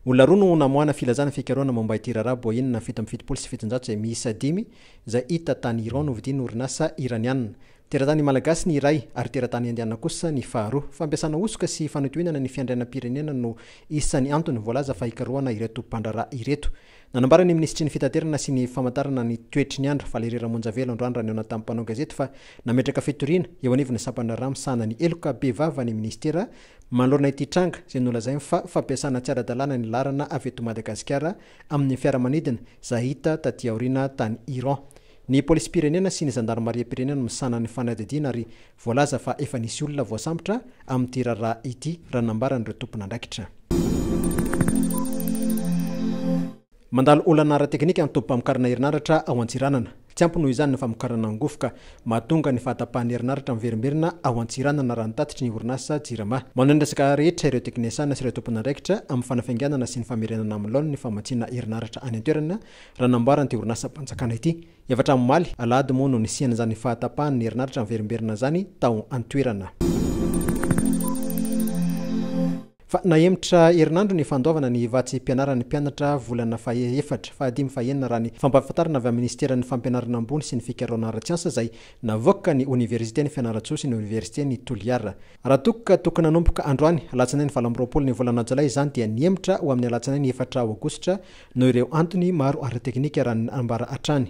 Olona roa no namoahana filazana fikarohana momba ity raharaha Boeing na fito amby fitopolo sy fitonjato izay miisa dimy izay hita tany Iran novidian'ny orinasa Iraniana. Teratany Malagasy ny iray ary teratany Indiana kosa ny faharoa. Fampiasana hosoka sy fanotohinana ny fiandrianam-pirenena no isan'ny antony voalaza fa hikarohana ireto mpandraharaha ireto. Nanambara ny minisitry ny fitaterana sy ny famantarana ny toetry ny andro, Valery Ramonjavelo androany raha nihaona tamin'ny mpanao gazety fa nametraka fitoriana eo anivon'ny sampandraharaha misahana ny heloka bevava ny minisitera Manoloana ity tranga izay nolazainy fa fampiasana tsy ara-dalàna ny laharana avy eto Madagasikara amin'ny fiaramanidina izay hita taty aoriana tany Iran ny polisim-pirenena sy ny zandarimariam-pirenena no misahana ny fanadihadiana ary voalaza fa efa nisy olona voasambotra amin'ity raharaha ity raha ny nambaran'ireo tompon'andraikitra. Mandalo olana ara-teknika ny tobim-pamokarana herinaratra ao Antsiranana. Tsy ampy noho izany ny famokarana angofo ka mahatonga ny fahatapahan'ny herinaratra miverimberina ao Antsiranana raha ny tatitry ny orinasa Jirama. Manohy ny resaka rehetra ireo teknesiana sy ireo tompon'andraikitra amin'ny fanafainganana sy ny famerenana amin'ny laoniny ny famatsiana herinaratra any an-toerana raha nambaran'ity orinasam-panjakana ity. Efatra amin'ny omaly, alahady moa no nisian'izany fahatapahan'ny herinaratra miverimberina izany tao an-toerana. Fa nahemotra herinandro ny fandoavana ny vatsim-pianaran'ny mpianatra volana faha-efatra, fahadimy, fahenina raha ny fampahafantarana avy amin'ny Minisiteran'ny Fampianarana Ambony sy ny Fikaraorana Ara-tsiansa izay navoaka ny Oniversiten'i Fianarantsoa sy ny Oniversiten'i Toliara. Raha toa ka tokony hanomboka androany, alatsinainy valo amby roapolo ny volana jolay izany dia nihemotra ho amin'ny alatsinainy efatra aogositra noho ireo antony maro ara-teknika raha ny nambara hatrany.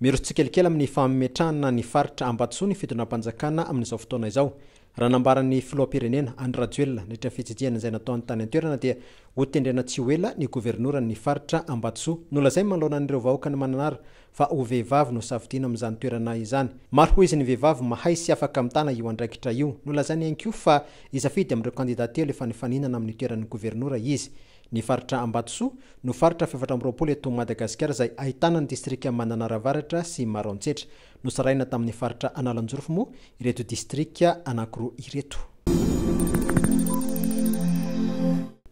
Miroso tsikelikely amin'ny fametrahana ny faritra Ambatosoa ny fitondram-panjakana amin'izao fotoana izao. Raha nambaran'ny filoham-pirenena, Andry Rajoelina, nandritra ny fitsidihana izay nataony tany an-toerana dia hotendrena tsy ho ela ny governoran'ny faritra Ambatosoa. Nolazainy manoloana an'ireo vahoakan'i Mananara fa ho vehivavy no safidiana amin'izany toerana izany. Maro ho izy ny vehivavy mahay sy afaka mitana io andraikitra io. Nolazainy ihany koa fa hisafidy amin'ireo kandida telo efa nifaninana amin'ny toeran'ny governora izy. Ny faritra Ambatosoa no faritra fahefatra amby roapolo eto Madagasikara izay ahitana ny distrika Mananara Avaratra sy Maroantsetra. Nosarahina tamin'ny faritra Analanjorofo moa ireto distrika anankiroa ireto.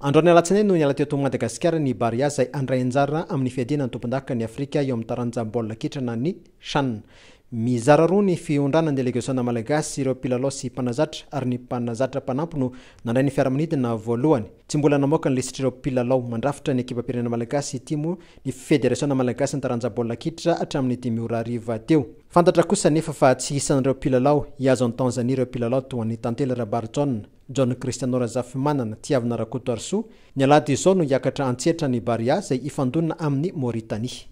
Androany alatsinainy no niala teto Madagasikara ny Barea izay handray anjara amin'ny fiadiana ny tompondaka ny Afrika eo amin'ny taranja baolina kitra na ny Chan. Mizara roa ny fiondrana ny delegasiona malagasy, ireo mpilalao sy mpanazatra ary ny mpanazatra mpanampy no nandray ny fiaramanidina voalohany. Tsy mbola namoaka ny lisitr'ireo mpilalao mandrafitra ny ekipam-pirenena malagasy ity moa ny Federasiona malagasin'ny taranja baolina kitra hatramin'ny dimy ora hariva teo. Fantatra kosa anefa fa tsy isan'ireo mpilalao hihazo an'i Tanzania ireo mpilalao toa an'i Tantely Rabarijaona. John Christiano Razafimanana, Tiavina Rakotoarisoa, Ny alahady izao no hiakatra an-tsehatra ny Barea izay hifandonana amin'i Mauritanie.